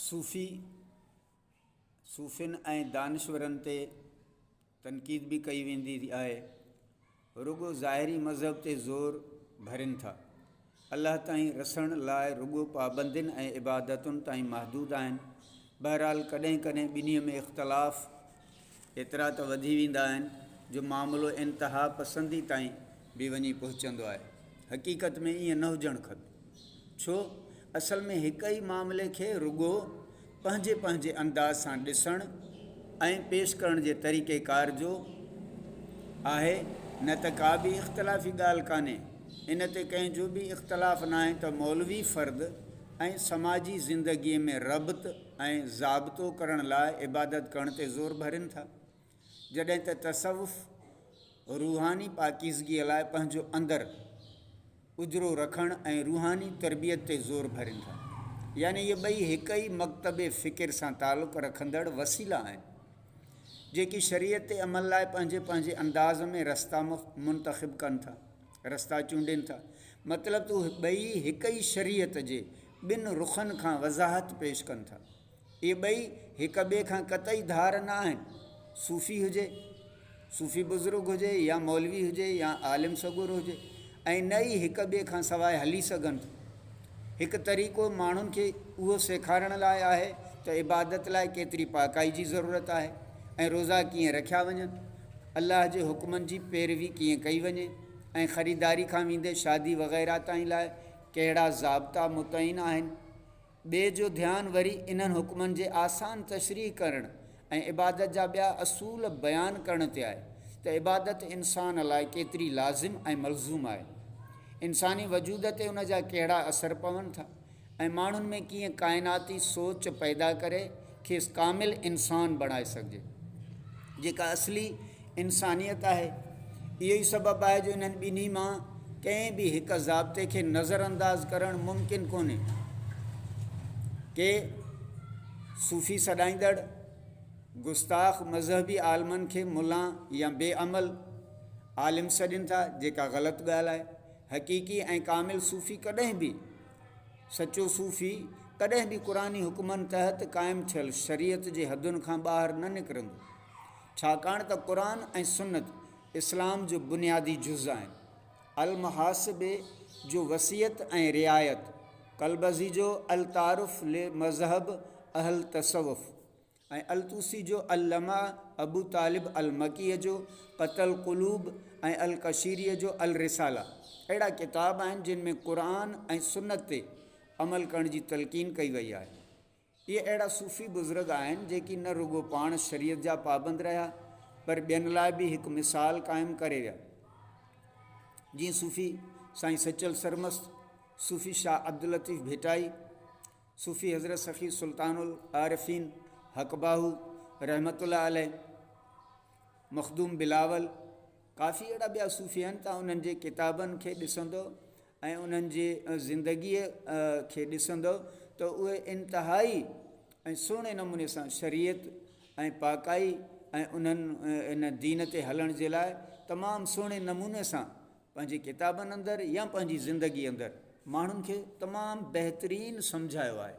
صوفي، صوفين ۽ دانشورن تي تنقيد به ڪئي ويندي آهي، رڳو ظاهري مذهب تي زور ڀرين ٿا. الله تائين رسڻ لاء رڳو پابندين ۽ عبادتن تائين محدود آهن. بهرحال ڪڏهن ڪڏهن ٻنهي ۾ اختلاف ايترا ته وڌي ويندا آهن جو معاملو انتها پسندي تائين به وڃي پهچندو آهي. حقيقت ۾ ائين نه هجڻ کپي. ڇو؟ اصل ۾ هڪ ئي معاملي کي رڳو پنهنجي پنهنجي انداز سان ڏسڻ ۽ پيش ڪرڻ جي طريقيڪار جو آهي نه ته ڪا به اختلافي ڳالهه ڪانهي. ان تي ڪنهن جو به اختلاف ناهي ته مولوي فرد ۽ سماجي زندگيء ۾ ربط، ۽ ضابطو ڪرڻ لاء عبادت ڪرڻ تي زور ڀرين ٿا، جڏهن ته تصوف روحاني پاڪيزگيء لاء پنهنجو اندر اجرو رکڻ ۽ روحاني تربيت تي زور ڀرين ٿا. يعني اهي ٻئي هڪ ئي مڪتب فڪر سان تعلق رکندڙ وسيلا آهن، جيڪي شريعت تي عمل لاء پنهنجي پنهنجي انداز ۾ رستا منتخب ڪن ٿا. رستا چونڊين ٿا. مطلب ته اهي ٻئي هڪ ئي شريعت جي ٻن رخن کان وضاحت پيش ڪن ٿا. اهي ٻئي هڪ ٻئي کان قطعي ڌار نه آهن. صوفي هجي، صوفي بزرگ هجي يا مولوي هجي يا عالم سڳورو هجي ۽ نه ئي هڪ ٻئي کان سواء هلي سگهن ٿا. هڪ طريقو ماڻهن کي اهو سيکارڻ لاء آهي ته عبادت لاء ڪيتري پاڪائي جي ضرورت آهي ۽ روزا ڪيئن رکيا وڃن. الله جي حڪمن جي پيروي ڪيئن ڪئي وڃي ۽ خريداري کان ويندي شادي وغيره تائين لاء ڪهڙا ضابطا متعين آهن. ٻئي جو ڌيان وري انهن حڪمن جي آسان تشريح ڪرڻ ۽ عبادت جا ٻيا اصول بيان ڪرڻ تي آهي ته عبادت انسان لاء ڪيتري لازم ۽ ملزوم آهي. انساني وجود تي ان جا ڪهڙا اثر پون ٿا. ۽ ماڻهن ۾ ڪيئن ڪائناتي سوچ پيدا ڪري کيس ڪامل انسان بڻائي سگهجي جيڪا اصلي انسانيت آهي اهو ئي سبب آهي جو انهن ٻنهي مان ڪنهن به هڪ ضابطي کي نظر انداز ڪرڻ ممڪن ڪونهي ڪي صوفي سڏائيندڙ گستاخ مذهبي عالمن کي ملا يا بي عمل عالم سڏين ٿا جيڪا غلط ڳالهه آهي حقيقي ۽ ڪامل صوفي ڪڏهن به سچو صوفي ڪڏهن به قرآني حڪمن تحت قائم ٿيل شريعت جي حدن کان ٻاهر نه نڪرندو، ڇاڪاڻ ته قرآن ۽ سنت اسلام جو بنيادي جز آهن. المحاسبي جو وصيت ۽ رعايت، ڪلبزي جو التعارف لمذهب اهل تصوف، ۽ الطوسي جو اللمع، ابو طالب المڪيء جو قتل القلوب ۽ القشيريء جو الرسالة اهڙا ڪتاب آهن جن ۾ قرآن ۽ سنت تي عمل ڪرڻ جي تلقين ڪئي وئي آهي. اهي اهڙا صوفي بزرگ آهن جيڪي نه رڳو پاڻ شريعت جا پابند رهيا پر ٻين لاء به هڪ مثال قائم ڪري ويا. جيئن صوفي سائين سچل سرمست، صوفي شاهه عبداللطيف ڀٽائي، صوفي حضرت سخي سلطان العارفين حقباهو رحمة الله عليه، مخدوم بلاول، ڪافي اهڙا ٻيا صوفي آهن ته انهن جي ڪتابن کي ڏسندو ۽ انهن جي زندگيء کي ڏسندو ته اهي انتهائي ۽ سهڻي نموني سان شريعت ۽ پاڪائي ۽ انهن ان دين تي هلڻ جي لاء تمام سهڻي نموني سان پنهنجي ڪتابن اندر يا پنهنجي زندگي اندر ماڻهن کي تمام بهترين سمجهايو آهي.